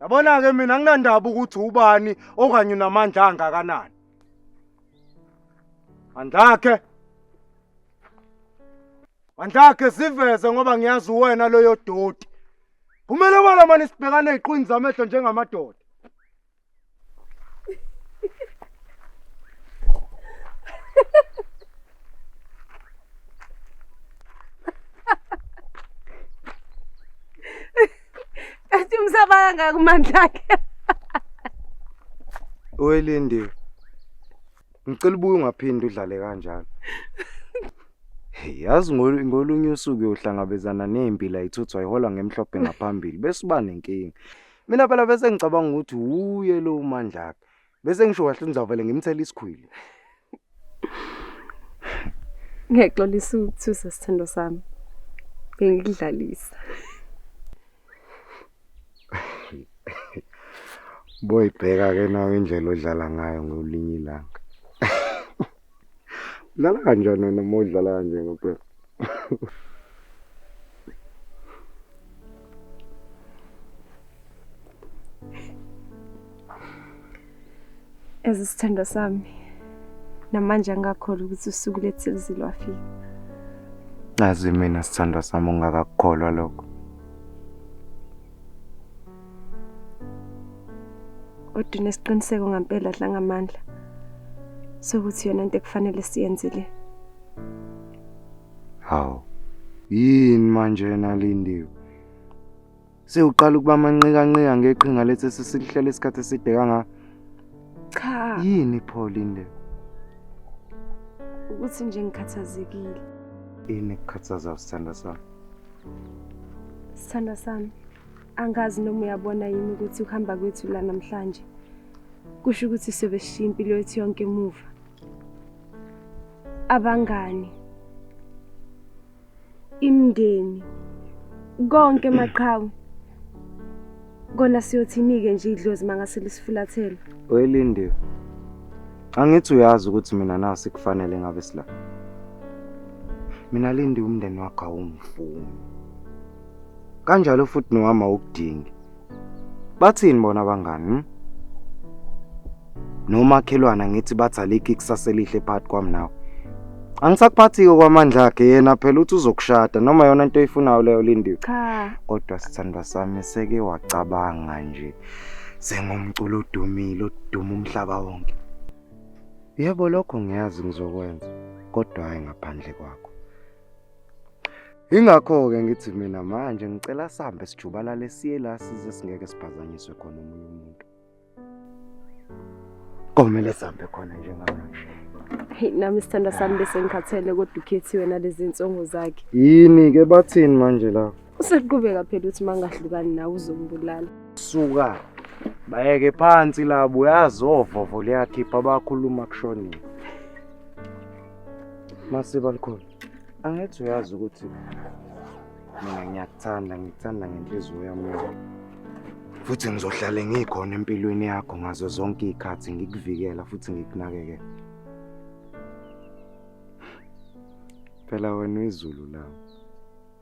Yabona-ke mina anginandaba ukuthi ubani okanye unamandla angakanani. Mandlakhe. Mandlakhe siveze ngoba ngiyazi uwena loyo doti. Kumele wena mani sibhekane eziqwini zamehlo njengamadoda. Athi umsabanga kumandla akhe. Oyilindiwe. Ngicela ubuye ungaphindi udlale kanjalo. Yazi ngolunye usuku uyohlangabezana nempi la ithuthwa ihola ngemhlophe ngaphambili bese uba nenkinga. mina phela bese ngicabanga ukuthi wuye lo umandla akhe bese ngisho kahle ngizavele ngimthele isikhwili ngiyaxolisa ukuthusa sithando sami ngikudlalisa boyibheka ke nawe indlela odlala ngayo ngolinye ilanga Udlala kanjani wena uma udlala kanje ngempela? Ezi sithando sami namanje angakholwa ukuthi usuku lethizi lwafika. Nazi mina sithandwa sami ungakakukholwa lokho. kodwa unesiqiniseko ngampela dlangamandla sokuthi yona into ekufanele siyenzile hawu yini manje yena lindiwe sewuqala ukuba manqikanqika ngeqhinga lethi sesilihlele isikhathi eside kangaka Cha. Yini pho Linde? Ukuthi nje ngikhathazekile. Yini kukhathaza usithanda sami? Sithanda sami. Angazi noma uyabona yini ukuthi uhamba kwethu la namhlanje. Kusho ukuthi sebeshiya impilo yethu yonke emuva. Abangani imndeni konke maqhawe kona siyothinike nje idlozi mangasile sifulathela welindiwe angithi uyazi ukuthi mina nasi kufanele ngabe sila mina lindi umndeni wakho awungifuni kanjalo futhi nowami awukudingi Bathini bona abangani? Hmm? Nomakhelwana ngithi bathi alikho ikusasa elihle phakathi kwami nawe. Angisakuphathi-ke kwamandla akhe yena phela uthi uzokushada noma yona into oyifunayo leyo Lindiwe. Cha, Kodwa sithandwa sami seke wacabanga nje sengumculo odumile oduma umhlaba wonke. Yebo lokho ngiyazi ngizokwenza kodwa hayi ngaphandle kwakho. Ingakho-ke ngithi mina manje ngicela sambe sijubalale siye la size singeke siphazanyiswe khona omunye umuntu. Komele sambe khona njengamanje. Hey nami sithanda sami bese ngikhathele kodwa ukhethi wena lezi insongo zakhe. Yini ke bathini manje la? Useqhubeka phela uthi mangahlukani nawe uzongibulala. Suka. Bayeke phansi labo uyazovovo liyakhipha abakhuluma kushonile. Masiba likhona. Angithi uyazi ukuthi mina ngiyakuthanda, ngikuthanda ngenhliziyo yami yonke. Futhi ngizohlale ngikhona empilweni yakho ngazo zonke izikhathi ngikuvikela futhi ngikunakekela. Phela wena uyizulu lami.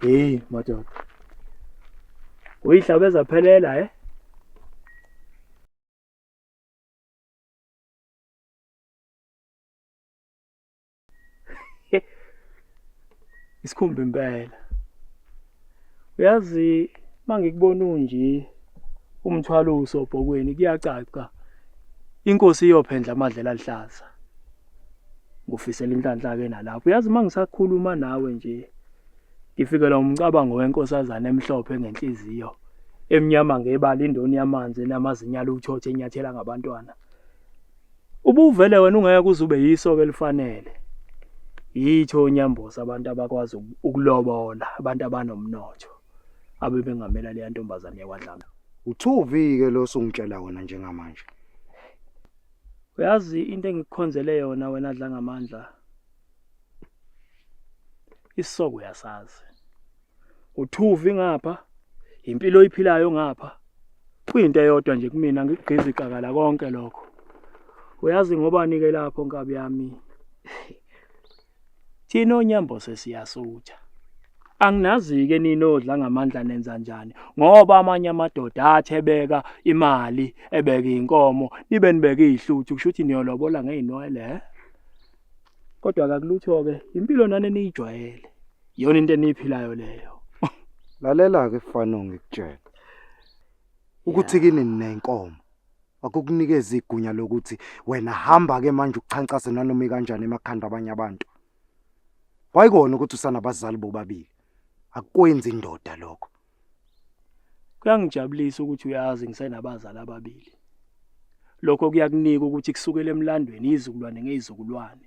Hey madoda. Uyihlabeza phelela eh? isikhumba impela uyazi mangikubona unje umthwalo usobhokweni kuyacaca inkosi iyophendla amadlela aluhlaza ngufisela inhlanhla ke nalapho uyazi uma ngisakhuluma nawe nje ngifikelwa umcabango wenkosazana emhlophe ngenhliziyo emnyama ngebala indoni yamanzi enamazinya aluthothe enyathela ngabantwana ubuvele wena ungeke kuzube yiso ke lifanele yitho unyambosa abantu abakwazi ukulobola abantu abanomnotho abebengamela leya ntombazane yakwadlama uthuvi ke lo sungitshela wona njengamanje Uyazi into engikukhonzele yona wena dla ngamandla. Isisoko uyasazi. Uthuvi ngapha, impilo oyiphilayo ngapha. Kuyinto eyodwa nje kumina ngikugqiza iqakala konke lokho. Uyazi ngobani ke lapho nkabi yami? Thina onyambo sesiyasutha. Anginazi-ke nini odla ngamandla nenza njani ngoba amanye amadoda athebeka imali ebeka iy'nkomo nibe nibeke iy'hluthu kusho ukuthi niyolobola ngey'nwele he kodwa kakulutho-ke impilo nani eniyijwayele iyona into eniyiphilayo leyo lalela-ke fano ngikutshela ukuthi kini ninenkomo wakukunikeza igunya lokuthi wena hamba ke manje ukuchancase nanoma ikanjani emakhanda abanye abantu wayikona ukuthi usanabazali bobabili akwenzi indoda lokho kuyangijabulisa ukuthi uyazi ngisenabazali ababili lokho kuyakunika ukuthi kusukela emlandweni izizukulwane ngezizukulwane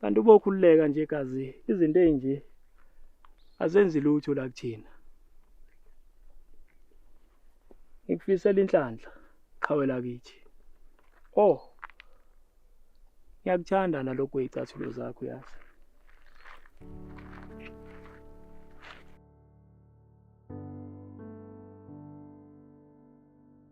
kanti uba ukhululeka nje gazi izinto ezinje azenzi lutho la kuthina ngikufisela inhlanhla qhawela kithi oh ngiyakuthanda nalokho izicathulo zakho yazi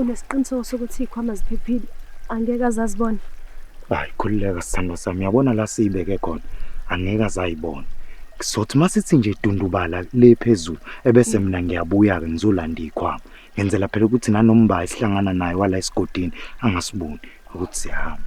Unesiqiniseko sokuthi ikhwama ziphephile angeke azazibona. Hayi khululeka sithandwa sami yabona la siyibeke khona angeke azayibona. Kuzothi masithi nje dundubala le phezulu ebese mina ngiyabuya ke ngizolanda ikhwama. Ngenzela phela ukuthi nanomba isihlangana naye wala esigodini angasiboni ukuthi siyahamba.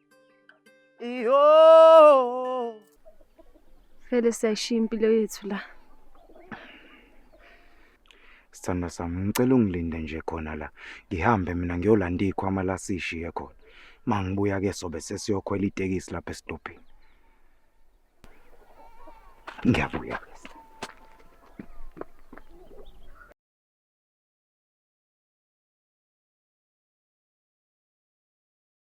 Iyo. Phela siyayishiya impilo yethu la. Sithanda sami ngicela ungilinde nje khona la. Ngihambe mina ngiyolanda ikhwama la sishiye khona. Mangibuya ke sobe sesiyokhwela itekisi lapha esidobhini. Ngiyabuya.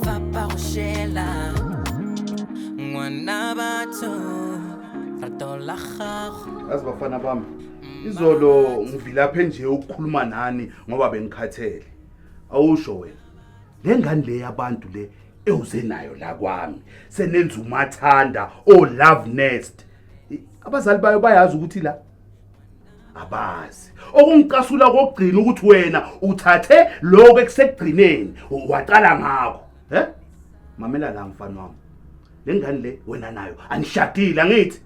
va pa go šela ngwana batho rato la gago yazi bafana bami izolo ngivilaphe nje ukukhuluma nani ngoba bengikhathele awusho wena le ngane le yabantu le ewuze nayo la kwami senenza umathanda o love nest abazali bayo bayazi ukuthi la abazi okungicasula kokugcina ukuthi wena uthathe lokho ekusekugcineni waqala ngakho he mamela la mfana wami le ngane le wena nayo anishadile angithi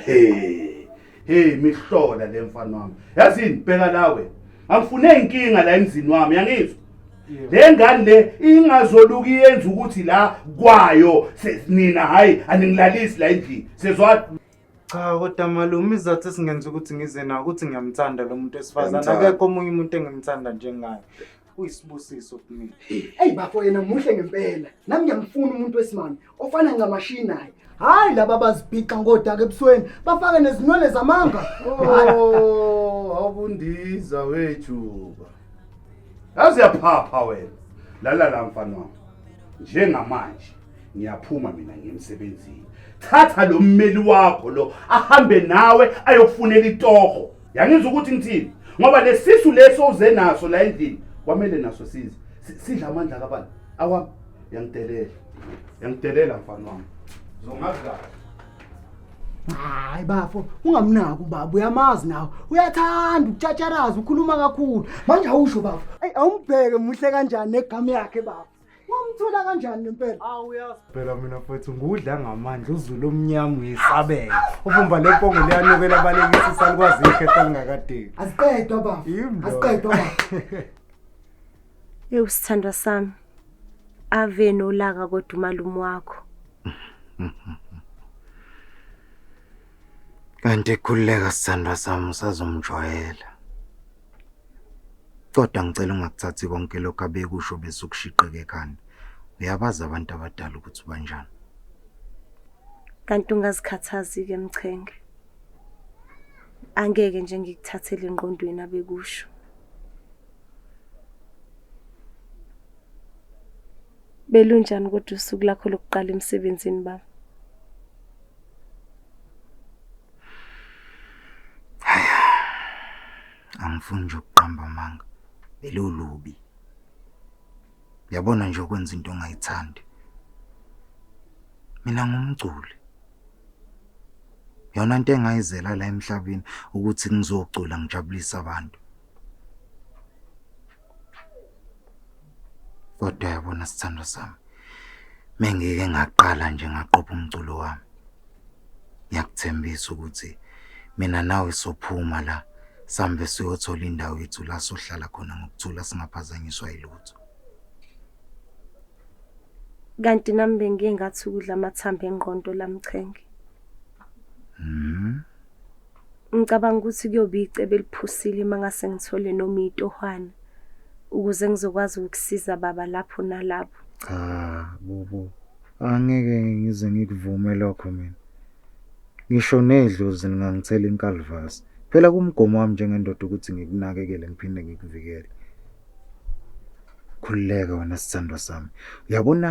hey hey mihlola le mfana wami yazini bheka lawe angifune inkinga la emzini wami yangizwa le ngane le ingazoluka iyenza ukuthi la kwayo nina hayi aningilalisi la endlini sezwa Cha kodwa malume izathu esingenza ukuthi ngize nawo ukuthi ngiyamthanda lo muntu wesifazane Uyamthanda. akekho omunye umuntu engimthanda njengaye uyisibusiso kumina Eyi bafo yena muhle ngempela. Nami ngiyamfuna umuntu wesimame ofana ncamashi naye. Hayi laba bazibhixa ngodaka ebusweni bafake nezinwele zamanga. Oh, awubundiza wejuba. Yazi yaphapha wena. Lala la mfana wami. Njengamanje ngiyaphuma mina ngiyemsebenzini thatha lo mmeli wakho lo ahambe nawe ayokufunela itoho yangizwa ukuthi ngithini ngoba lesisu leso uze naso la endlini kwamele naso size sidla amandla kabani awami yangidelela yangidelela mfana wami zongazi kahle hayi bafo ungamnaki ubaba uyamazi nawe uyathanda ukutshatsharaza ukhuluma kakhulu manje awusho bafo eyi awumbheke muhle kanjani negama yakhe bafo Wamthola kanjani ngempela? Awu uyazi. Phela mina mfethu ngudla ngamandla uzulu omnyama uyesabeka. Uvumba lempongo liyanukela abalekisi isalukwazi ikhetha lingakadeki. Asiqedwa baba. Yimbo. Asiqedwa baba. Yewu sithandwa sami. Ave nolaka kodwa umalume wakho. Kanti khululeka sithandwa sami usazomjwayela. Kodwa ngicela ungakuthathi konke lokho abekusho bese ukushiqeka ekhanda. Uyabazi abantu abadala ukuthi banjani. Kanti ungazikhathazi-ke Mchenge. Angeke nje ngikuthathele engqondweni abekusho. Belunjani kodwa usuku lakho lokuqala emsebenzini baba? angifuni nje ukuqamba amanga belolubi yabona nje ukwenza into ongayithandi mina ngumculi yona into engayizela la emhlabeni ukuthi ngizocula ngijabulise abantu Kodwa yabona sithandwa sami. Mengike ngaqala nje ngaqopha umculo wami. Ngiyakuthembisa ukuthi mina nawe sophuma la sambe siyothola indawo yethu la sohlala khona ngokuthula singaphazanyiswa yilutho. Kanti nami bengiye ngathi ukudla amathambo engqondo lamchenge. Mhm. Ngicabanga ukuthi kuyobe icebo eliphusile uma ngase ngithole noma itohwana ukuze ngizokwazi ukusiza baba lapho nalapho. Cha, bubu. Angeke ngize ngikuvume lokho mina. Ngisho nedlozi lingangithela inkalivasi. Phela kumgomo wami njengendoda ukuthi ngikunakekele ngiphinde ngikuvikele. Khululeka wena sithandwa sami. Uyabona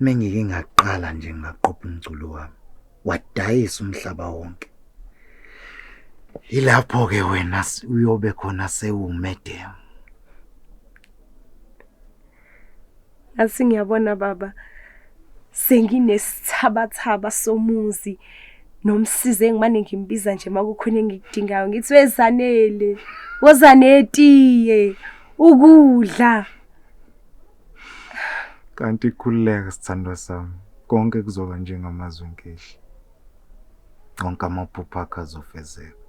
mengike ngaqala nje ngaqopha umculo wami. wadayisa umhlaba wonke yilapho ke wena uyobe khona sewumedem asi ngiyabona baba senginesithabathaba somuzi nomsizi engimane ngimbiza nje makukhona engikudingayo ngithi wezanele wozanetiye ukudla kanti khululeka sithandwa sami konke kuzoba njengamazwi enkehli onke amaphupho akho azofezeka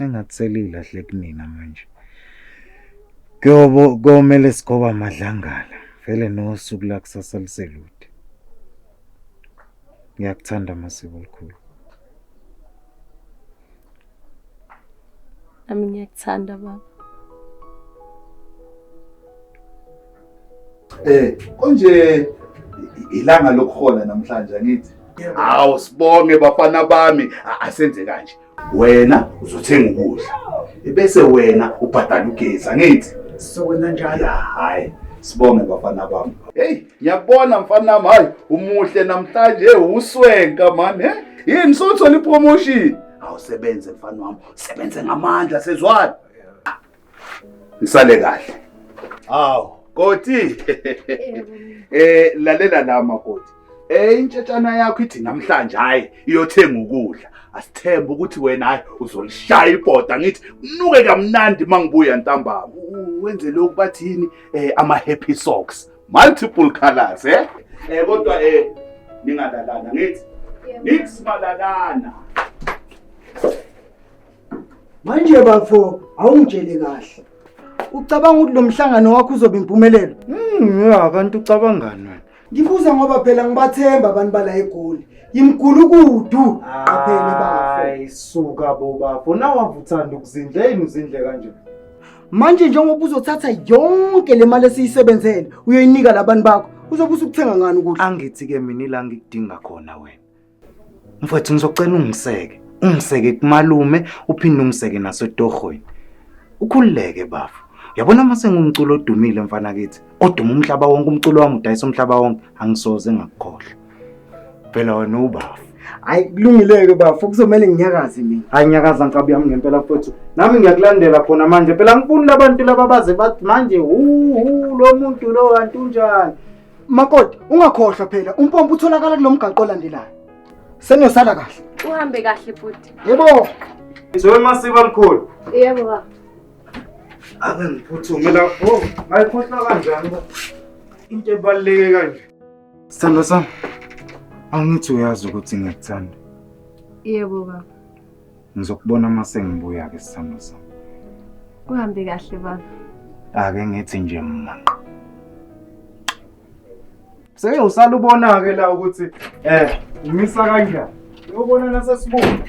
engathi selilahle kunina manje kuyobo komele sigoba amadlangala vele nosuku lakusasa liselude ngiyakuthanda masiko likhulu nami ngiyakuthanda baba eh konje ilanga lokuhola namhlanje angithi hawu sibonge bafana bami asenze kanje wena uzothenga ukudla bese wena ubhadala ugesi angithi sizokwenza njalo hayi sibonge bafana bami hey ngiyakubona mfana nami hayi umuhle namhlanje uswenka mani he yini sothola ipromotion awusebenze mfana wami sebenze ngamandla sezwana ngisale kahle awu koti eh lalela la makoti eh intshetshana yakho ithi namhlanje hayi iyothenga ukudla asithembe ukuthi wena hayi uzolishaya ibhoda ngithi unuke kamnandi mangibuya ntambama wenze lokhu bathini eh ama happy socks multiple colors eh eh kodwa eh ningalalana ngithi nix malalana manje bafo awungitshele kahle ucabanga ukuthi lo mhlangano wakho uzoba impumelelo Mm, ya kanti ucabangani wena? ngibuza ngoba phela ngibathemba abantu bala egoli yimgulukudu qaphele bafo Hayi suka bo bafo. Nawavuthanda ukuzindla yini uzindle kanje? manje njengoba uzothatha yonke le mali esiyisebenzele uyoyinika labantu bakho uzobe usukuthenga ngani ukudla angithi-ke mina ila ngikudinga khona wena mfwethu ngizocela ungiseke ungiseke kumalume uphinde ungiseke nasetorhweni ukhululeke bafo yabona uma sengumculo odumile mfana kithi oduma umhlaba wonke umculo wami udayisa umhlaba wonke angisoze ngakukhohlwa Phela wena ubafu. Hayi kulungileke bafo kuzomela nginyakaze mina. Hayi nyakaza nkabi yami ngempela mfowethu. Nami ngiyakulandela khona manje. Phela ngifuni labantu laba baze bathi manje uhu lo muntu lo kanti unjani. Makoti ungakhohlwa phela umpompo utholakala kulomgaqo olandelayo. Senosala kahle. Uhambe kahle bhuti. Yebo. Ngizowe masiba mkhulu. Yebo baba. Ake ngiphuthume la. Oh, ayikhohlwa kanjani? Into ebaluleke kanje. Sithando sami, angithi uyazi ukuthi ngiyakuthanda. Yebo baba. Ngizokubona uma sengibuya-ke sithando sami. Kuhambe kahle baba. Ake ngithi nje mmanqa. Seke usalubona-ke la ukuthi eh umisa kanjani. Uyobona nasesibonga.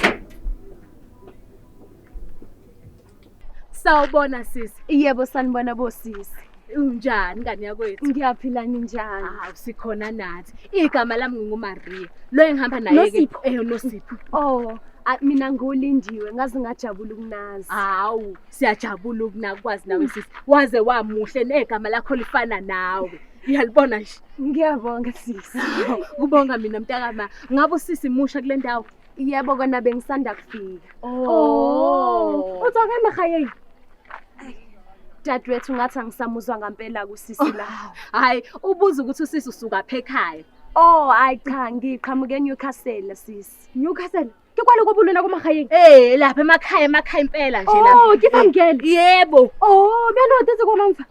Sawubona sisi. Yebo sanibona bosisi. Unjani ngane yakwethu? Ngiyaphila ninjani? Hawu sikhona nathi. Igama lami nginguMaria. Lo engihamba naye ke. Nosipho. Eh Nosipho. Oh, a- mina ngulindiwe ngaze ngajabula ukunazi. Hawu siyajabula ukunakwazi nawe sisi. Waze wamuhle negama lakho lifana nawe. Uyalibona nje. Ngiyabonga sisi. Kubonga mina mntakama. Ngabe usisi musha kule ndawo. Yebo kona bengisanda kufika. Oh. Uthi akana khayeni. Dadwethu ngathi angisamuzwa ngampela kusisi la. Hayi, ubuza ukuthi usisi usuka phe ekhaya. Oh, hayi cha ngiqhamuke eNewcastle sisi. Newcastle. Ke kwalo kobulona komahayeni. Eh, lapha emakhaya emakhaya impela nje lapha. Oh, kifangele. Yebo. Oh, benothi zikona mfa.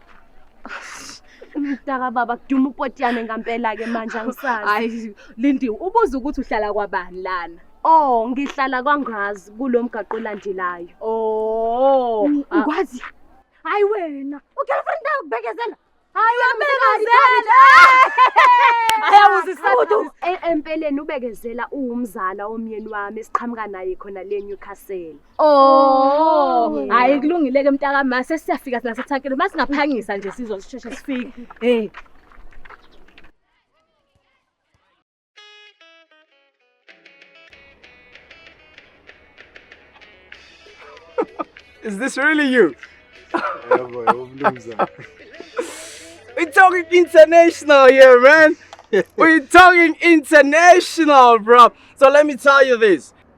Mtaka baba kuduma upotiyane ngampela ke manje angisazi. Hayi Lindiwe ubuza ukuthi uhlala kwabani lana. Oh ngihlala kwaNgazi kulomgaqo olandelayo. Oh ukwazi. Hayi wena ugirlfriend yakho bekezela. Hayi ubekezela. Ayawuzisabuthu. Empeleni ubekezela uwumzala omyeni wami siqhamuka naye khona le Newcastle. Oh, hayi kulungile ke mntaka ma sesiyafika sina sethankeni uma singaphangisa nje sizosheshe sifike. Hey. Is this really you? Yebo, yebo mnumzane. We talking international here, man. We talking international, bro. So let me tell you this.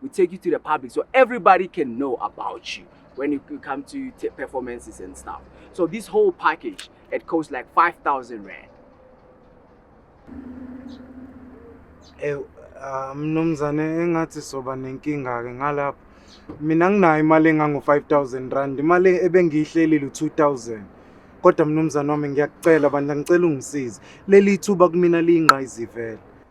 we take you to the public so everybody can know about you when you come to performances and stuff. So this whole package, it costs like 5,000 rand. Eh, ah, mnumzane engathi soba nenkinga-ke ngalapho mina nginayo imali engango-five thousand rand imali ebengiyihlelile u-two thousand kodwa mnumzane wami ngiyakucela bandla ngicela ungisize leli thuba kumina liyingqayizivele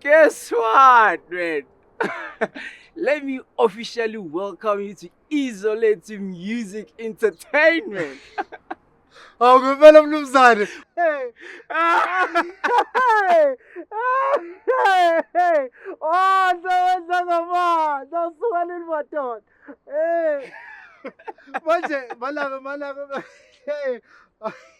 Guess what, man? Let me officially welcome you to Isolate Music Entertainment. Awu ngempela mnumzane. Hey. Hey. Hey. Oh, ndowenza ngama. Ndasuka leli madoda. Hey. Manje malaka malaka. Hey.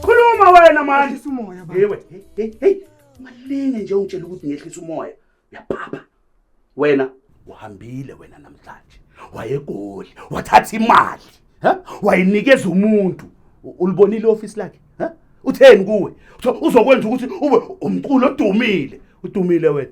khuluma wena manje yewe hey hey malinge nje ungitshela ukuthi ngehlisa umoya uyaphapha wena uhambile wena namhlanje wayegoli wathatha imali wayinikeza umuntu ulibonile office lakhe utheni kuwe uzokwenza ukuthi ube umculo odumile udumile wena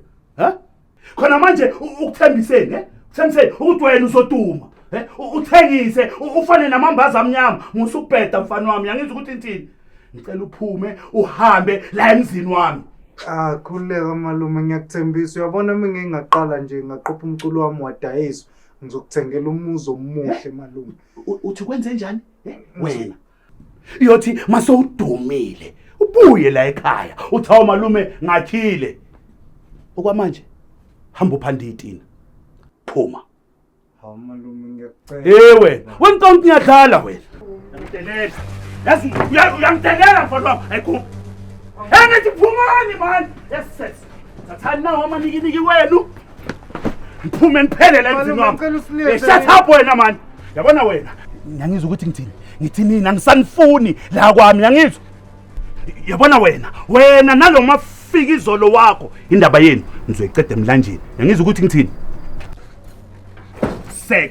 khona manje u- ukuthembiseni eh? uthembiseni ukuthi wena uzoduma eh? U- uthengise u- ufane namambaza amnyama musubheda mfana wami yangizwa ukuthi ngithini ngicela uphume uhambe la emzini wami Ah khululeka malume ngiyakuthembisa uyabona mina ngingaqala nje ngaqopha umculo wami wadayiswa ngizokuthengela umuzi omuhle malume U- uthi kwenze njani eh? wena iyothi mase udumile ubuye la ekhaya uthi hawu malume ngakhile okwamanje hamba uphanda itina phuma hawu malume ngiyacela hey wena wena tonke ngiyadlala wena ngiyadlala yazi uyangidelela mfana wami ayikhuphi engithi phumani mani yes yes thathani nawo amanikiniki wenu ngiphume ngiphelele emzini wami eh, shut up wena mani yabona wena ngiyangizwa ukuthi ngithini ngithi nina ngisanifuni la kwami ngiyangizwa yabona wena wena nalo mafika izolo wakho indaba yenu ngizoyiqeda emlanjeni ngiyangizwa ukuthi ngithini sek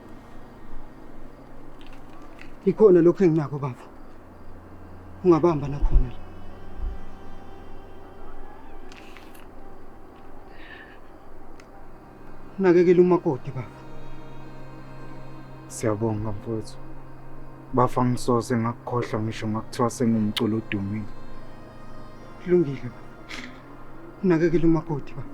Ikhona lokho enginako baba. Ungabamba nakhona la. Nakekela umakoti baba. Siyabonga mfowethu. Bafa ngisoze ngakukhohlwa ngisho ngakuthiwa sengumculo odumile. Kulungile baba. Nakekela umakoti baba.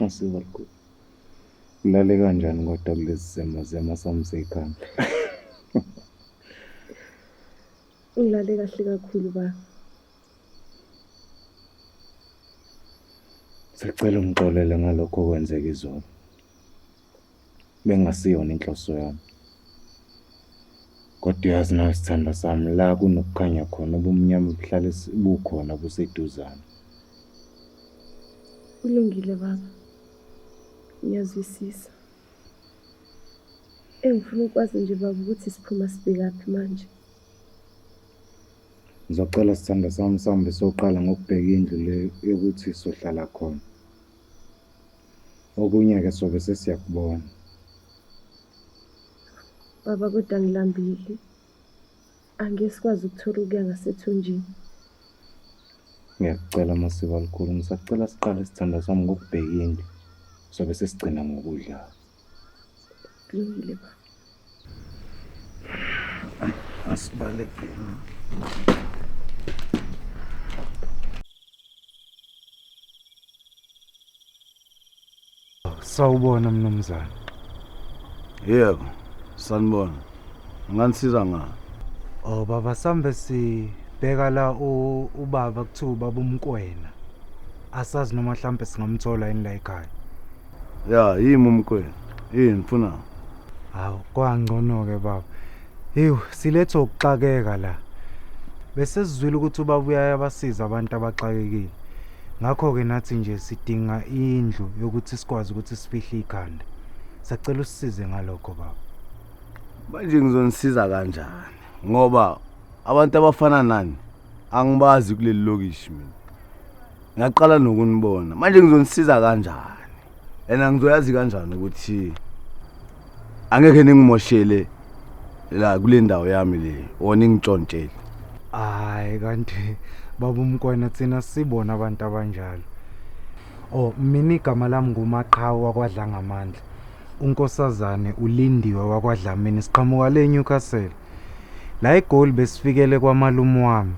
Ngisiza lukhulu. Ulale kanjani kodwa kulezi simo zema sami seyikhanda? Ulale kahle kakhulu ba. Sicela ungixolele ngalokho okwenzeka izolo. Bengasiyona inhloso yami. Kodwa uyazi nawe sithando sami la kunokukhanya khona ubumnyama buhlale bukhona buseduzane. Kulungile baba. Ngiyazwisisa. Engifuna ukwazi nje baba ukuthi siphuma sibhekaphi manje. Ngizocela sithandwa sami sihambe soqala ngokubheka indlu le yokuthi sohlala khona. Okunye-ke sobe sesiyakubona. Baba kodwa ngilambile. Angeke sikwazi ukuthola ukuya ngasethunjini. Ngiyakucela Masiko alikhulu, ngisacela siqale sithandwa sami ngokubheka indlu. Sobe sesigcina ngokudla. kulungile ba asibalekeni sawubona mnumzane yebo sanibona nganisiza ngani oh baba sambe sibheka la u- ubaba kuthiwa ubaba umkwena asazi noma mhlampe singamthola yini la ekhaya ya yimi umkwenu yini funa hawu kwangcono-ke baba hewu silethe ukuxakeka la besesizwile ukuthi ubaba uyayabasiza abantu abaxakekile ngakho-ke nathi nje sidinga indlu yokuthi sikwazi ukuthi sifihle ikhanda sacela usisize ngalokho baba manje ngizonisiza kanjani ngoba abantu abafana nani angibazi kuleli lokishi mina ngaqala nokunibona manje ngizonisiza kanjani and angizoyazi kanjani ukuthi angeke ningimoshele la kule ndawo yami le or ningitshontshele hayi kanti baba umkwana thina sibona abantu abanjalo oh mina igama lami ngumaqhawe wakwadlangamandla unkosazane ulindiwe wakwadlamini siqhamuka le Newcastle La eGoli besifikele kwamalume wami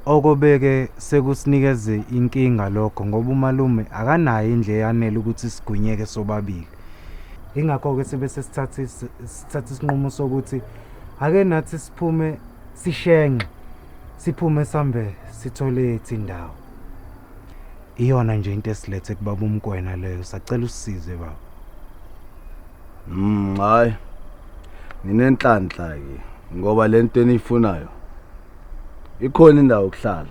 okobeke sekusinikeze inkinga lokho ngoba umalume akanayo indle eyanele ukuthi sigwinyeke sobabili ingakho-ke sibe sesithatha isinqumo sokuthi ake nathi siphume sishenxe siphume sambe sithole ethi indawo Iyona nje into esilethe kubaba uMkwena leyo sacela usizwe baba. Mm hayi. Nginenhlanhla ke ngoba lento eniyifunayo ikhona indawo yokuhlala.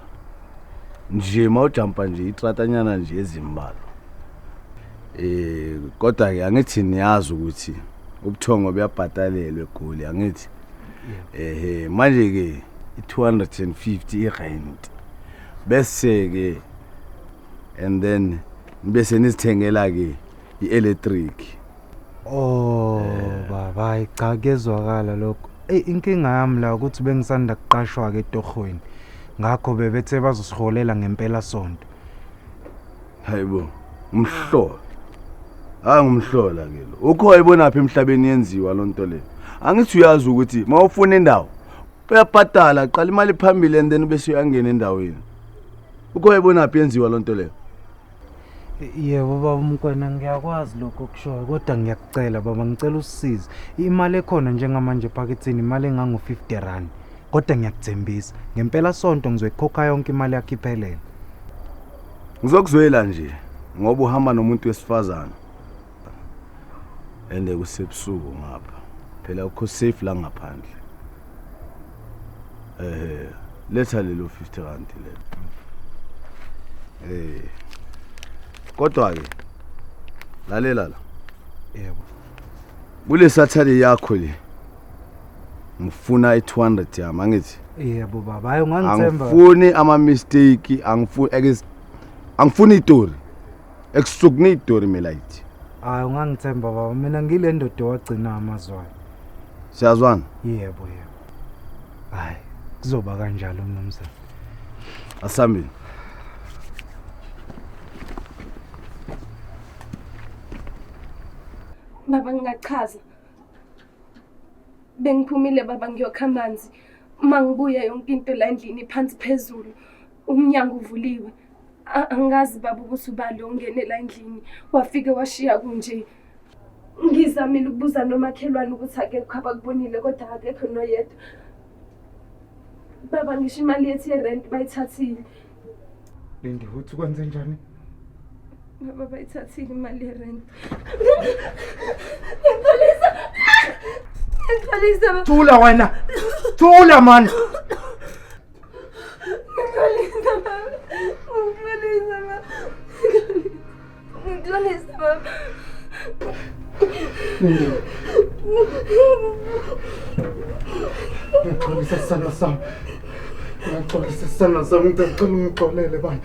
Nje mawujampa nje itratanyana nje ezimbalo. Eh kodwa ke angithi niyazi ukuthi ubuthongo buyabhatalelwa egoli angithi. Ehe manje ke i250 irent. bese-ke and then nibe senizithengela-ke i-electric oh baba hayi cha kuyezwakala lokho eyi inkinga yami la ukuthi bengisanda kuqashwa-ke etohweni ngakho bebethe bazosiholela ngempela sonto hayibo umhlola hayi ngumhlola ke lo ukho ayibonaphi emhlabeni yenziwa loo nto leyo angithi uyazi ukuthi uma ufuna indawo uyabhadala qala imali phambili and then bese uyangena endaweni ukho wayibonaphi yenziwa loo nto leyo yebo baba umkwena ngiyakwazi lokho kushoyo kodwa ngiyakucela baba ngicela usisize imali ekhona njengamanje ephakethini imali engango-50 rand kodwa ngiyakuthembisa ngempela sonto ngizoyikhokha yonke imali yakho iphelele ngizokuzwela nje ngoba uhamba nomuntu wesifazane and kusebusuku ngapha phela ukho safe la ngaphandle eh letha lelo 50 rand le eh kodwa ke lalela la yebo kule sathali yakho le ngifuna i200 yami angithi yebo baba hayi ungangithemba angifuni ama mistake angifuni angifuni itori Ekusukuni idori melayithi. Hayi ungangithemba baba mina ngile ndoda owagcina amazwana. Siyazwana? Yebo yebo. Hayi kuzoba kanjalo mnumzane. Asambile. Baba ngingachaza. Bengiphumile baba ngiyokha amanzi. Uma ngibuya yonke into la endlini phansi phezulu. Umnyango uvuliwe. Angazi baba ukuthi ubani ongenela endlini wafike washiya kunje. Ngizamile ukubuza nomakhelwane ukuthi akekho abakubonile kodwa akekho noyedwa. Baba ngisho imali yethu yerent bayithathile. Lindi uthi kwenze njani? Baba bayithathile imali yerent. Ngiyaqalisa. Ngiyaqalisa. Thula wena. Thula manje. Hindi. Ngixola isesandla sami. Ngixola isesandla sami. Ngicela ungixolele bani.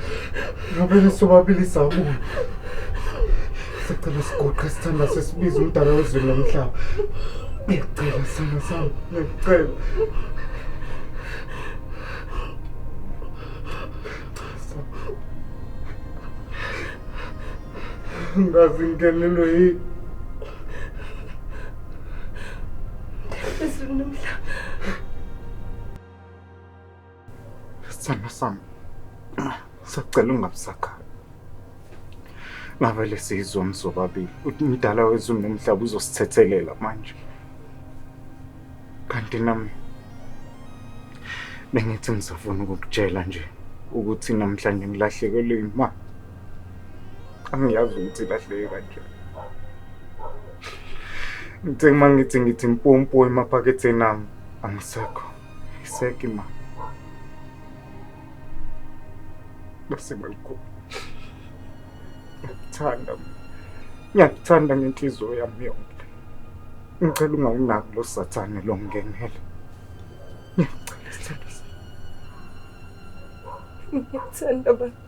Ngabele sobabili sabuya. Sicela siguqe isithandwa sesibiza umdala wezulu lomhlaba. Ngiyacela isandla sami. Ngiyacela. ngazi ngingenelwe yini Phezulu nomhlaba. Sithando sami, sacela ungabusakhali. Ngavele sizwa mzobabili ukuthi umdala wezulu nomhlaba uzosithethelela manje. kanti nami bengithi ngizofuna ukukutshela nje ukuthi namhlanje ngilahlekelwe yima angiyazi ukuthi ilahleke kanjani ngithe uma ngithi ngithi mpompo emaphaketheni ami angisekho iseke imali base balikhokhela ngiyakuthanda ngiyakuthanda ngenhliziyo yami yonke ngicela ungawunaki lo sathane lo ngenele ngiyacela sithando ngiyakuthanda baba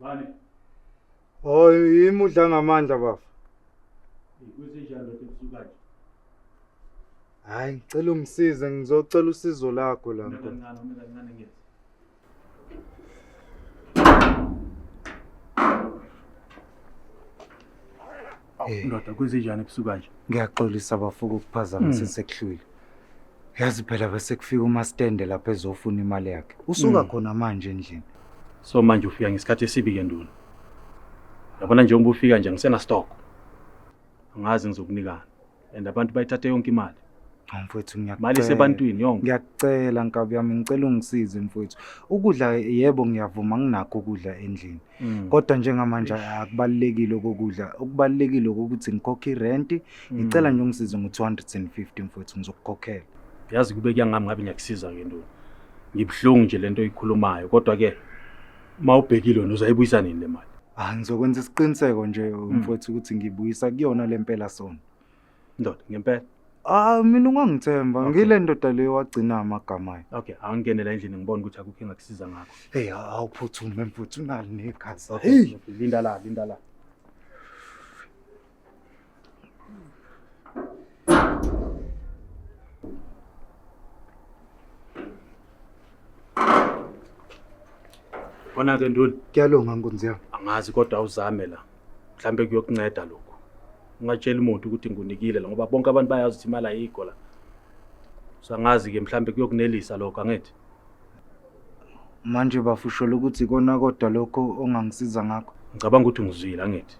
Bani? Oh, yimi udla ngamandla bafo. Kusenjani lokho ebusuku kanje? Hayi, ngicela ungisize ngizocela usizo lakho la. Mina kancane, mina kancane ngithi. Eh. ndoda kwenzenjani ebusuku kanje ngiyaxolisa bafuka ukuphazamisa hmm. sekuhlwile yazi phela bese kufika umastende lapha ezofuna imali yakhe usuka hmm. khona manje endlini so manje ufika ngesikhathi esibi ke nduna yabona njengoba ufika nje ngisenastoko angazi ngizokunikani and abantu bayithathe yonke imali Hawu mfwethu mali ngiyakucela. isebantwini yonke Ngiyakucela nkabi yami ngicela ungisize mfwethu. Ukudla yebo ngiyavuma nginakho ukudla endlini. Mm, Kodwa njengamanje akubalekile kokudla. Okubalekile ukuthi ngikhokhe irent. mm. Ngicela nje ungisize ngo250 mfwethu ngizokukhokhela. yazi kube kuyangami ngabe ngiyakusiza ke ntoni ngibuhlungu nje lento oyikhulumayo kodwa ke Uma ubhekile wena uzayibuyisa nini le mali? Ah ngizokwenza isiqiniseko nje hmm. mfowethu ukuthi ngibuyisa kuyona lempela sona. Ndoda ngempela. Ah mina ungangithemba okay. ngile ndoda leyo wagcina amagama ayo. Okay, angene la endlini ngibona ukuthi akukho engakusiza ngakho. Hey awuphuthume mfowethu unali negazi. Okay, linda la, linda la. Konake nduna. Kuyalunga nkunzi yami. Angazi kodwa awuzame la. Mhlambe kuyokunceda lokho. Ungatshela umuntu ukuthi ngunikile la ngoba bonke abantu bayazi ukuthi imali ayikho la. Sangazi ke mhlambe kuyokunelisa lokho angithi. Manje bafo usholo ukuthi ikona kodwa lokho ongangisiza ngakho. Ngicabanga ukuthi ungizwile angithi.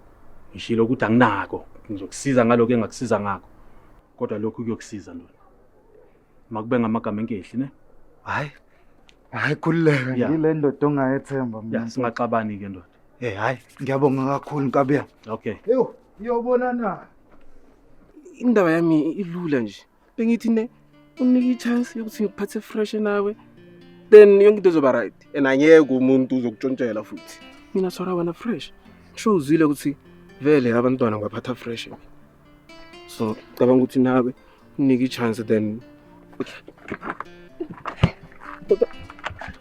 Ngishilo ukuthi anginako. Ngizokusiza ngalokho engakusiza ngakho. Kodwa lokhu kuyokusiza ndona. Makube ngamagama enkehli ne. Hayi. Hayi khululeka Yeah. ngile ndoda ongayethemba Ya mina. singaxabani ke ndoda. Eh hayi ngiyabonga kakhulu Nkabiya. Okay. Yho, iyobona na. Indaba yami ilula nje. bengithi ne unike i-chance yokuthi ngikuphathe fresh nawe then yonke into izoba right and angeke umuntu uzokutshontshela futhi mina sora wena fresh sho uzwile ukuthi vele abantwana ngibaphatha fresh so cabanga ukuthi nawe unike i-chance then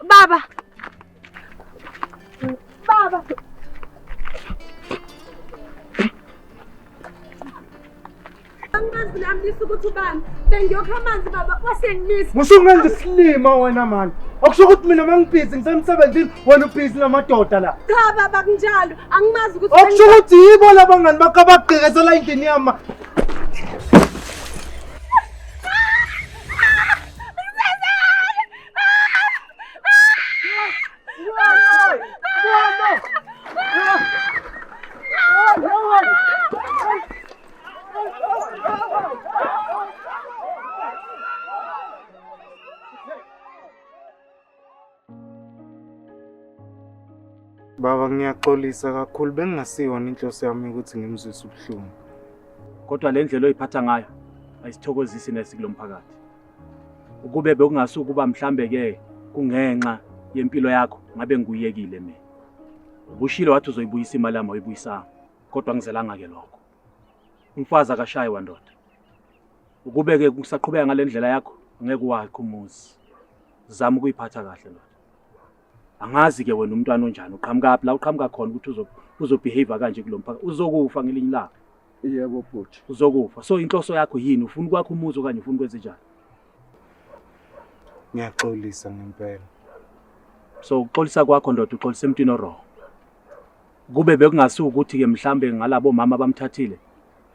baba Baba. Angazi nami lisa ukuthi ubani. Bengiyokha amanzi baba wasengimisa. Musungenza isilima wena mani. Okusho ukuthi mina mangibhizi ngisemsebenzini wena ubhizi namadoda la. Cha baba kunjalo. Angimazi ukuthi Okusho ukuthi yibo labangani bakho abagqekezela endlini yami. ma- Baba ngiyaxolisa kakhulu bengingasiyona inhloso yami ukuthi ngimzwise ubuhlungu. Kodwa le ndlela oyiphatha ngayo ayisithokozisi nesi kulo mphakathi. ukube bekungasukuba mhlambe ke kungenxa yempilo yakho ngabe ngikuyekile mina ubushilo wathi uzoyibuyisa imali yami oyibuyisanga kodwa ngizelanga ke lokho umfazi akashayi wandoda ukube ke kusaqhubeka ngalendlela yakho ngeke wakho umuzi zama ukuyiphatha kahle ndoda angazi ke wena umntwana onjani uqhamuka phi la uqhamuka khona ukuthi uzobehave kanje kulomphaka uzokufa ngelinye ilanga Yebo bhuti. Uzokufa. So inhloso yakho yini? Ufuna ukwakha umuzi okanye ufuna ukwenza njani? Ngiyaxolisa ngempela. So uxolisa kwakho ndoda uxolisa emntwini oroho. Kube bekungasi ukuthi ke mhlambe ngalabo mama abamthathile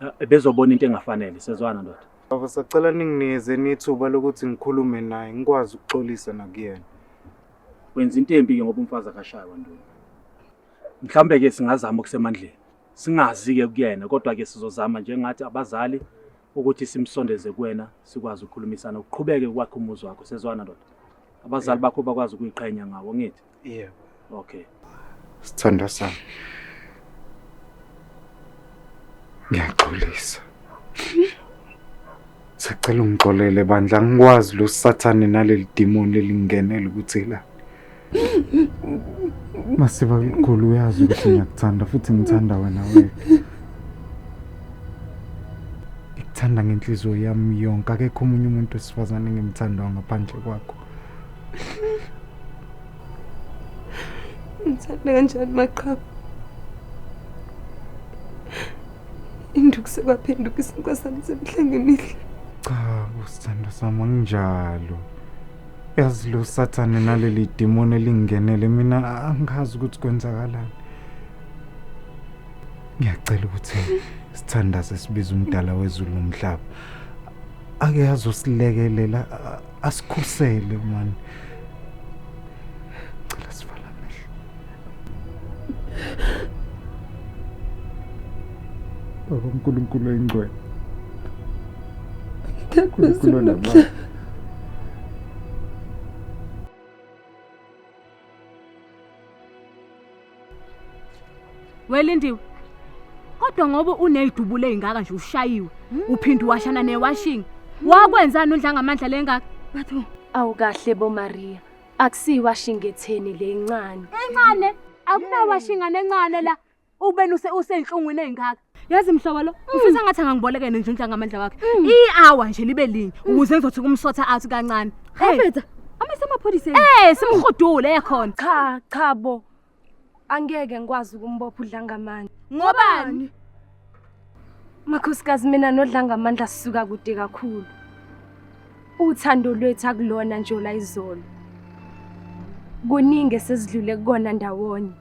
eh, bezobona into engafanele sezwana ndoda. Baba sacela ningineze nithuba lokuthi ngikhulume naye ngikwazi ukuxolisa nakuyena. Wenza into embi ke ngoba umfazi akashaywa nduna. Mhlambe ke singazama okusemandleni. Singazi-ke kuyena kodwa-ke sizozama njengathi abazali ukuthi simsondeze kuwena sikwazi ukukhulumisana uqhubeke kwakhe umuzi wakho sezwana ndoda abazali bakho bakwazi ukuyiqhenya ngawo ngithi yebo okay sithanda sami ngiyaxolisa sacela ungixolele bandla angikwazi lo sathane naleli demon elingenele ukuthi la Masiba mkhulu uyazi ukuthi ngiyakuthanda futhi ngithanda wena wena. Ngikuthanda ngenhliziyo yami yonke akekho omunye umuntu wesifazane engimthandayo ngaphandle kwakho. Ngithanda kanjani maqhawe? Induku sekwaphenduka isinkosana semihla ngemihle. Cha, usithando sami anginjalo. yazi lo sathane naleli demoni elingenele mina angazi ukuthi kwenzakalani ngiyacela ukuthi sithandaze sibize umdala wezulu nomhlaba ake azosilekelela a- asikhusele mani Baba uNkulunkulu oyingcwele. Unkulunkulu onamandla. Welindiwe. Kodwa ngoba unezidubulo ezingaka nje ushayiwe, uphinde washana newashing. Wakwenzani undla ngamandla lengaka? Batho. Awukahle bo Maria. Akusiyiwashingetheni le incane. Encane akunawashingane encane la. Ubeni use usenhlungwini ezingaka. Yazi mhlobo lo, mm. ufisa ngathi angangiboleke nje unja ngamandla wakhe. Mm. I-hour nje libe linye mm. ukuze ngizothi kumsotha out kancane. Hey. Amaphoyisa. Eh, simhudule ekhona. Cha, cha bo. Angeke ngikwazi ukumbopha uDlangamandla. Ngobani? Makhosikazi mina noDlangamandla sisuka kude kakhulu. Uthando lwethu akulona nje ola izolo. Kuningi esesidlule kukona ndawonye.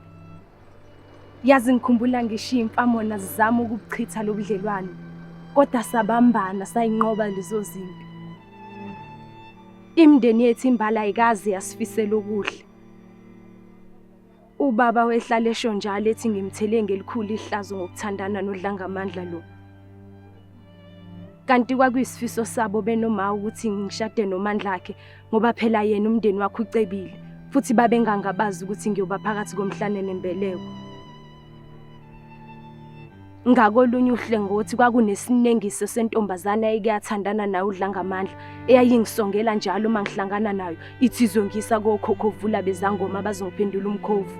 Yazi ngikhumbula ngisho imfamona zizama ukubuchitha lobudlelwane. Kodwa sabambana sayinqoba lezo zimpi. Imndeni yethu imbala ayikaze yasifisela okuhle. Ubaba wehlala esho njalo ethi ngimthele ngelikhulu ihlazo ngokuthandana nodlangamandla lo. Kanti kwakuyisifiso sabo benoma ukuthi ngishade nomandla akhe ngoba phela yena umndeni wakhe ucebile futhi babengangabazi ukuthi ngiyoba phakathi komhlane nembeleko. Ngakolunye uhlengothi kwakunesinengiso sentombazana eyayikuyathandana nayo uDlangamandla eyayingisongela njalo uma ngihlangana nayo ithi izongisa kokhokhovula bezangoma bazongiphendula umkhovu.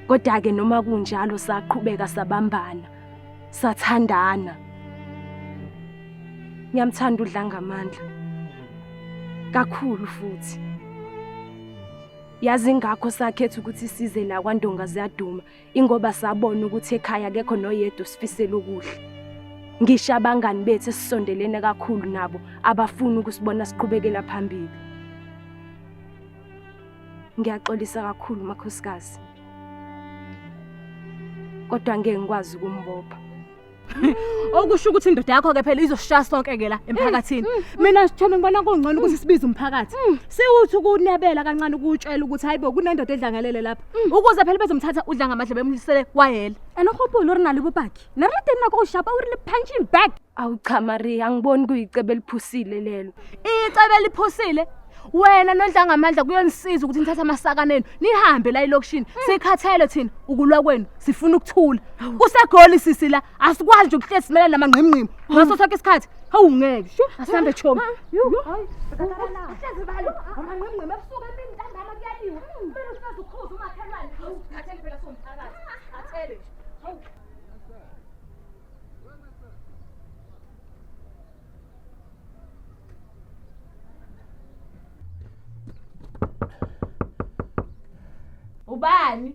Kodwa-ke noma kunjalo saqhubeka sabambana sathandana. Ngiyamthanda uDlangamandla kakhulu futhi. Yazi ngakho sakhetha ukuthi size la kwaNdonga ziyaduma ingoba sabona ukuthi ekhaya akekho noyedwa sifisela ukuhle. Ngisho abangani bethu esisondelene kakhulu nabo abafuni ukusibona siqhubekela phambili. Ngiyaxolisa kakhulu makhosikazi. Kodwa ngeke ngikwazi ukumbopha. okusho ukuthi indoda yakho ke phela izoshaya sonke ke la emphakathini mm, mm, mina mm. sithembe ngibona kungcono ukuthi sibize umphakathi siwuthi ukunebela kancane ukutshela ukuthi hayibo kunendoda edlangalele lapha ukuze phela bezomthatha udla ngamadle bemlisele kwayela and hope lori nalo bobakhe narate nako ushapa uri le punching bag awu cha maria angiboni kuyicebe eliphusile lelo icebe eliphusile wena nodlanga amandla kuyonisiza ukuthi nithathe amasaka nenu nihambe la elokishini sikhathele thina ukulwa kwenu sifuna ukuthula kusegoli sisi la asikwazi nje ukuhlezi simela namangqimngqimi ngaso sonke isikhathi hawu ngeke sho asihambe chomi ubani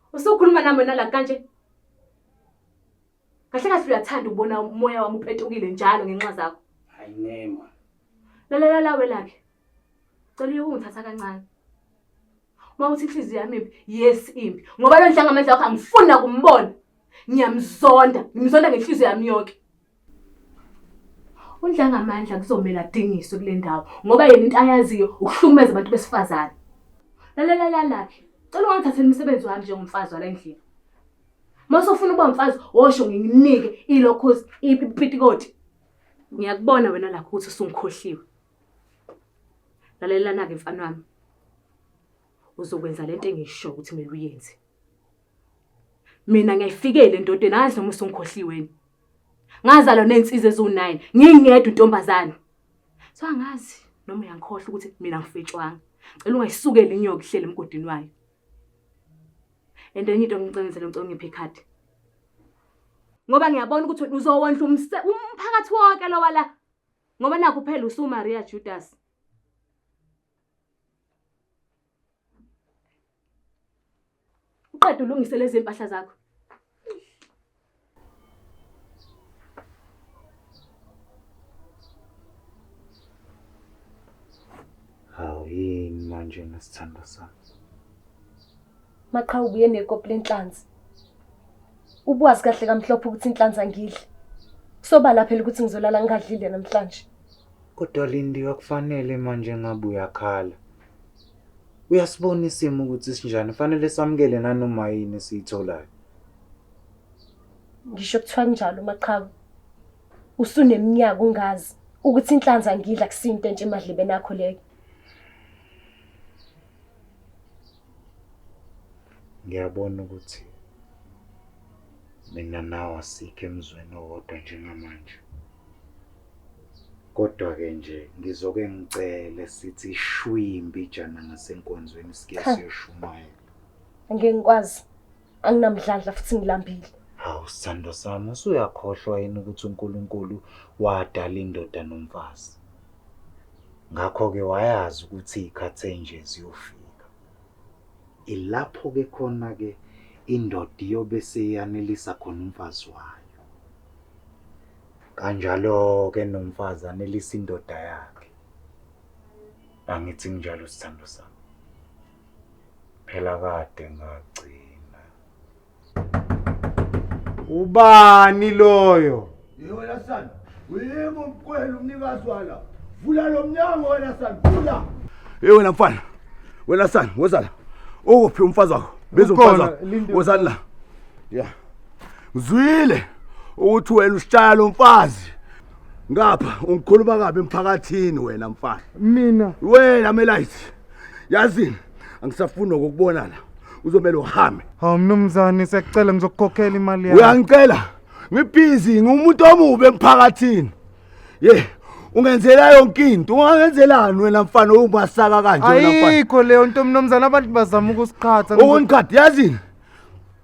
Usukhuluma nami wena la kanje? Kahle kahle uyathanda ukubona umoya wami upetukile njalo ngenxa zakho. Hayi nema. Lalela la welakhe. Cela uyokungithatha kancane. Uma uthi inhliziyo yami imbi, yes imbi. Ngoba lo ndlanga amandla wakho angifuni nakumbona. Ngiyamzonda, ngimzonda ngenhliziyo yami yonke. UNdlangamandla kuzomele adingiswe kule ndawo ngoba yena into ayaziyo ukuhlukumeza abantu besifazane. Lalela lalakhe. Cela ungathathela umsebenzi wami njengomfazi wala endlini. Mase ufuna ukuba umfazi wosho nginginike ilokhozi ipitikoti. Ngiyakubona wena lakho ukuthi usungikhohliwe. Lalelana ke mfana wami. Uzokwenza lento engisho ukuthi mina uyenze. Mina ngiyayifikela endodeni adle uma usungikhohliweni. Ngazalwa nezinsizwa eziwu-9 ngingedwa intombazane. So angazi noma uyangikhohlwa ukuthi mina ngifetshwanga. Cela ungayisukeli inyoka ihlele emgodini wayo. And enye into ngicengezele ngicela ungiphe ikhadi. Ngoba ngiyabona ukuthi uzowondla umse- umphakathi wonke lowa la. Ngoba nakho phela usuMaria Judas. uqeda ulungise lezi mpahla zakho hawu yini manje nesithando sami maqhawu ubuye nekopi lenhlanzi ubuwazi kahle kamhlophe ukuthi inhlanzi angidli kusobala phela ukuthi ngizolala ngingadlile namhlanje kodwa lindi akufanele manje ngabe uyakhala Uyasibona isimo ukuthi sinjani, fanele samukele nanoma yini esiyitholayo. Ngisho kuthiwa kunjalo Maqhawe. Usuneminyaka ungazi ukuthi inhlanza ngidla kusinto entshe emadlebeni akho leyo. Ngiyabona ukuthi mina nawe asikho emzweni owodwa njengamanje. Kodwa-ke nje ngizoke ngicele sithi shwi imbijana ngasenkonzweni sike siyoshumayela. Ngeke ngikwazi. Anginamdlandla futhi ngilambile. Hawu sithando sami usuyakhohlwa yini ukuthi uNkulunkulu wadala indoda nomfazi. Ngakho-ke wayazi ukuthi iy'khathi enje ziyofika. Ilapho-ke khona-ke indoda iyobe seyanelisa khona umfazi wayo. Kanjalo-ke nomfazi anelisa indoda yakhe. Angithi nginjalo sithando sami. Phela kade ngagcina. Ubani loyo? Yewena sana. Uyimi umkwela umnikazi wala. Vula lo mnyango wena sana. Vula. Hey wena mfana. Wena sana, wozala. Ukuphi umfazi wakho? Biza umfazi Ukhona, wakho. Linda. Wozani la. Yeah. ngizwile ukuthi wena usishaya lo mfazi ngapha ungikhuluma kabi emphakathini wena mfana mina wena melayithi yazini angisafuni nokukubona la uzomele uhambe hawu mnumzane siyakucela ngizokukhokhela imali yakho uyangicela ngibhizi ngumuntu omubi emphakathini ye ungenzela yonke into ungangenzelani wena mfana ungasaka kanje wena mfana ayikho leyo nto mnumzane abantu bazama ukusiqhatha ukungiqhatha yazini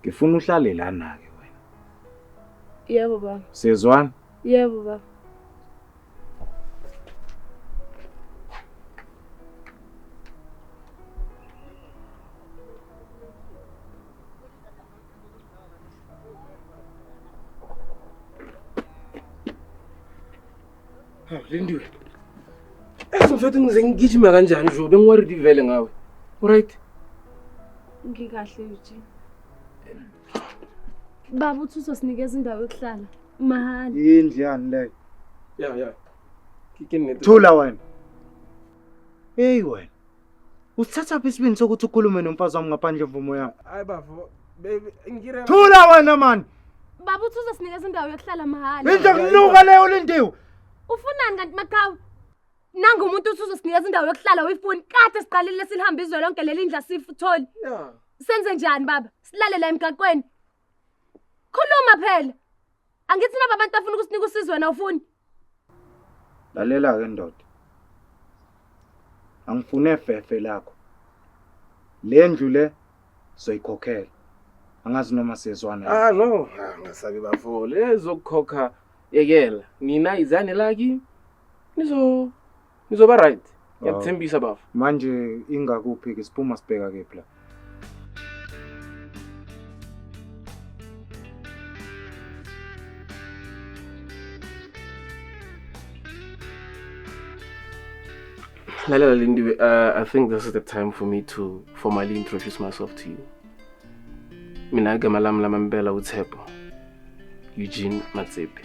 ngifuna uhlale lana-ke wena yebo baba siyezwana yebo baba Hawu Lindiwe. Yazi mfethu ngize ngigijima kanjani nje bengiworried vele ngawe. Alright. Ngikahle Eugene. Baba uthi uzosinikeza indawo yokuhlala mahhala. Yindlu yani leyo. Yeah, yeah. Kikini ngethi. Thula wena. Hey wena. Usithathaphi isibindi sokuthi ukhulume nomfazi wami ngaphandle mvumo yami? Hayi bafo, baby, ngire. Thula wena man. Baba uthi uzosinikeza indawo yokuhlala mahhala. Into kunuka leyo lindiwe. Ufunani kanti maqhawe? Nangu umuntu uthi uzosinikeza indawo yokuhlala uyifuni. Kade siqalile silihamba izwe lonke leli ndla sifutholi. Yeah. Senze njani baba? Silale la emgaqweni. Khuluma phela. Angithi laba bantu bafuna ukusinika usizo wena ufuni? Lalela ke ndoda. Angifune fefe lakho. Le ndlu le soyikhokhela. Angazi noma siyezwana. Ah no, ah, ngasabi bafo. Lezokukhokha yekela. Nina izane laki. Nizo Ngizoba right. Ngiyakuthembisa bafo. Manje ingakuphi ke siphuma sibheka kephi la? Lalela Lindiwe, uh, I think this is the time for me to formally introduce myself to you. Mina igama lami lamambela uThepho. Eugene Matsepe.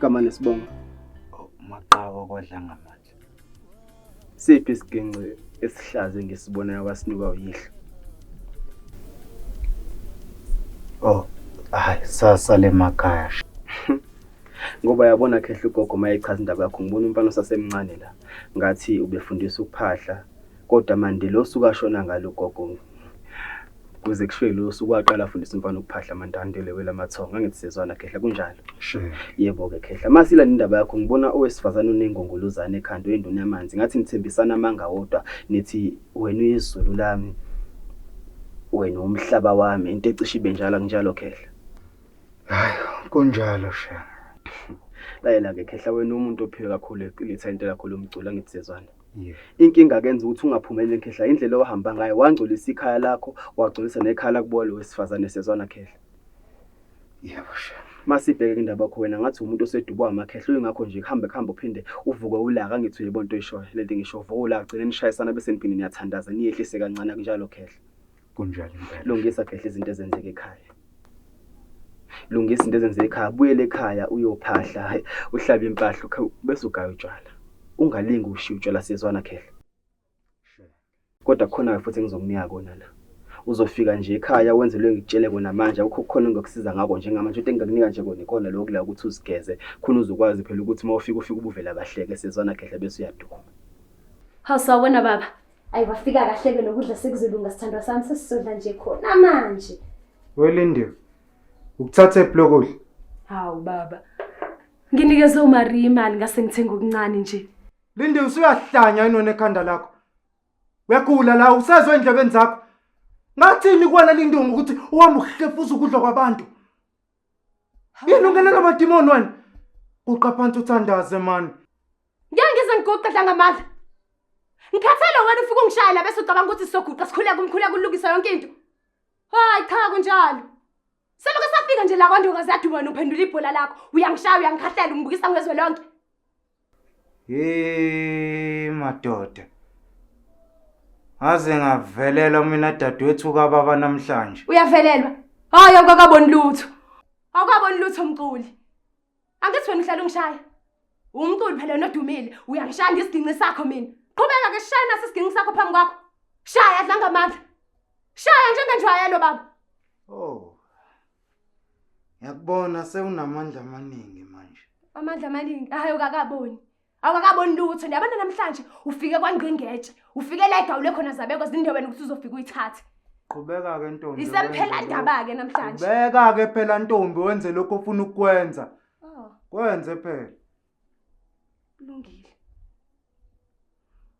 Kama nesibongo. Oh, Maqawa kodlanga manje. Siphi isiginci esihlaze ngisibonayo kwasinikwa uyihlo? Oh, hayi sasa lemakhaya. Ngoba yabona khehla ugogo mayechaza indaba yakho ngibona umfana osasemncane la. Ngathi ubefundisa ukuphahla Kodwa mande losuku ashona ngalo ugogo kuze kushiwe lo suku waqala afundisa umfana ukuphahla amantantele wela amathongo angithi sezwana khehla kunjalo sure yebo ke khehla masila indaba yakho ngibona owesifazane onengongolozane ekhanda oyinduna yamanzi ngathi nithembisana amanga wodwa nithi wena uyizulu lami wena umhlaba wami into ecishe ibe njalo kunjalo khehla hayi kunjalo sha layela ke khehla wena umuntu ophiwe kakhulu eqilitha into kakhulu umcula ngithi sezwana Inkinga kenza ukuthi ungaphumeleli Khehla indlela owahamba ngayo wangcolisa ikhaya lakho wagcolisa nekhaya lakubo lo wesifazane siyazwana Khehla. Yebo shem. Masibheke indaba yakho wena ngathi umuntu osedubwa amakhehla uyingakho nje kuhambe kuhambe uphinde uvuke ulaka angithi uyebo into oyishoyo lento engisho uvuke ulaka gcine nishayisana bese niphinde niyathandaza niyehlise kancane akunjalo Khehla. Kunjalo impela. Lungisa phehla izinto ezenzeka ekhaya. Lungisa izinto ezenzeka ekhaya, buyele ekhaya uyophahla, uhlabe impahla ukhe bese ugaya utshwala. Ungalingi ushiya utshwala siyezwana khehla. Kodwa khona futhi engizokunika kona la. Uzofika nje ekhaya wenze lo ngikutshele kona manje akukho khona engizokusiza ngako njengamanje into engingakunika nje kona ikona lokho la ukuthi uzigeze khona uzokwazi phela ukuthi uma ufika ufike ubuvela kahleke siyezwana khehla bese uyaduma. Hawu sawubona baba. Ayi wafika kahle ke nokudla sekuzolunga sithandwa sami sesizodla nje khona manje. Welindiwe. Ukuthatha iblokudla. Hawu baba. Nginikeze uMaria imali ngase ngithenga okuncane nje. Lindi usuyahlanya inone ekhanda lakho. Uyagula la usezwe endlebeni zakho. Ngathini kuwena lindungu ukuthi uhamba uhlefuza ukudla kwabantu. Yini ungenela amadimoni wena? Uqa phansi uthandaze mani. Ngeke ngize ngiguqe dlanga amandla. Ngikhathele wena ufike ungishaya la bese ucabanga ukuthi sizoguqa sikhuleke umkhuleko ulungisa yonke into. Hayi cha kunjalo. Seluke safika nje la kwandoka zaduba wena uphendula ibhola lakho. Uyangishaya uyangikhahlela ungibukisa ngezwe lonke. Hey madoda. Ngaze ngavelelwa mina dadwethu kababa namhlanje. Uyavelelwa. Hayi awukakaboni lutho. Awukaboni lutho mculi. Angithi wena uhlala ungishaya. Umculi phela nodumile, uyangishaya ngesiginci sakho mina. Qhubeka ke shaya naso isiginci sakho phambi kwakho. Shaya dlanga amandla. Shaya njengenjwayelo baba. Oh. Ngiyakubona sewunamandla amaningi manje. Amandla amaningi ahayo kakaboni. awakaboni lutho niyabona namhlanje ufike kwangqingetshe ufike la egawule khona zabeko zindeweni ukuthi uzofika uyithathe qhubeka-ke ntombi isekuphela ndaba-ke namhlanje qhubeka-ke phela ntombi wenze lokho ofuna ukukwenza oh. kwenze phela kulungile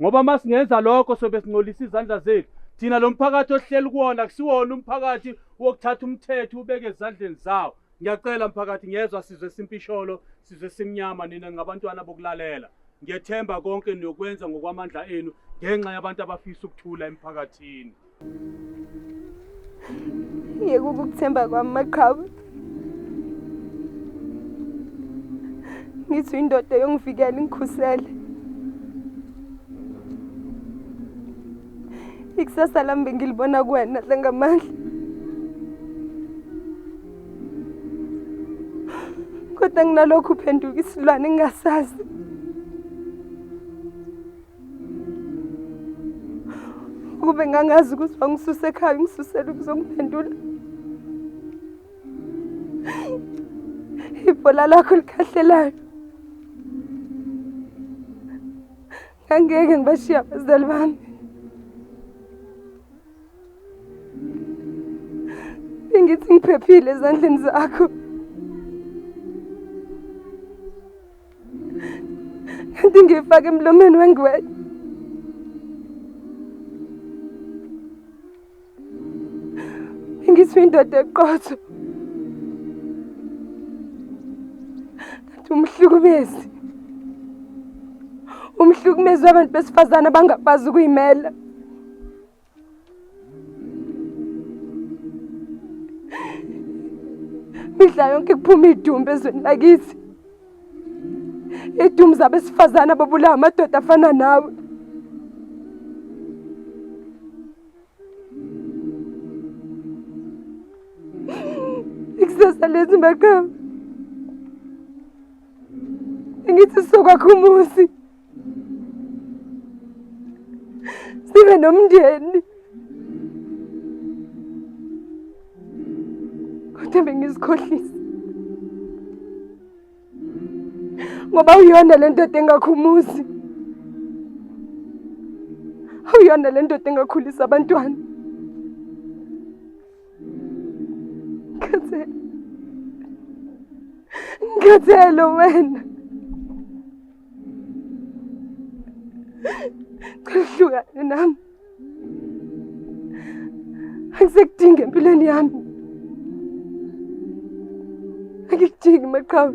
ngoba uma singenza lokho sobe singcolisa izandla zethu thina lo mphakathi ohleli kuwona kusiwona umphakathi wokuthatha umthetho ubeke ezandleni zawo ngiyacela mphakathi ngiyezwa sizwe simpisholo sizwe simnyama nina ngabantwana bokulalela ngiyethemba konke niyokwenza ngokwamandla enu ngenxa yabantu abafisa ukuthula emphakathini yeke ukukuthemba kwami maqhawe ngithi indoda yongivikela ingikhusele ikusasa lami bengilibona kuwena dlangamandla kodwa nginalokhu uphenduka isilwane engingasazi ukube ngangazi ukuthi wangisuse ekhaya ungisusele ukuzongiphendula ibhola lakho likhahlelayo ngangeke ngibashiya abazali bami bengithi ngiphephile ezandleni zakho kanti ngiyifake emlomeni wengwenya ngisho indoda eqotho kanti umhlukumezi umhlukumezi wabantu besifazane abangakwazi ukuyimela midla yonke kuphuma idumbu ezweni lakithi idumbu zabesifazane ababulawa amadoda afana nawe ikusasa lezi maqhawe ngithi sokwakho umuzi sibe nomndeni kodwa bengizikhohlisa ngoba uyona le ndoda engakhumuzi uyona le ndoda engakhulisa abantwana ngikhathele ngikhathele wena Kuhlukane nami. Angisekudingi empilweni yami. Angikudingi maqhawe.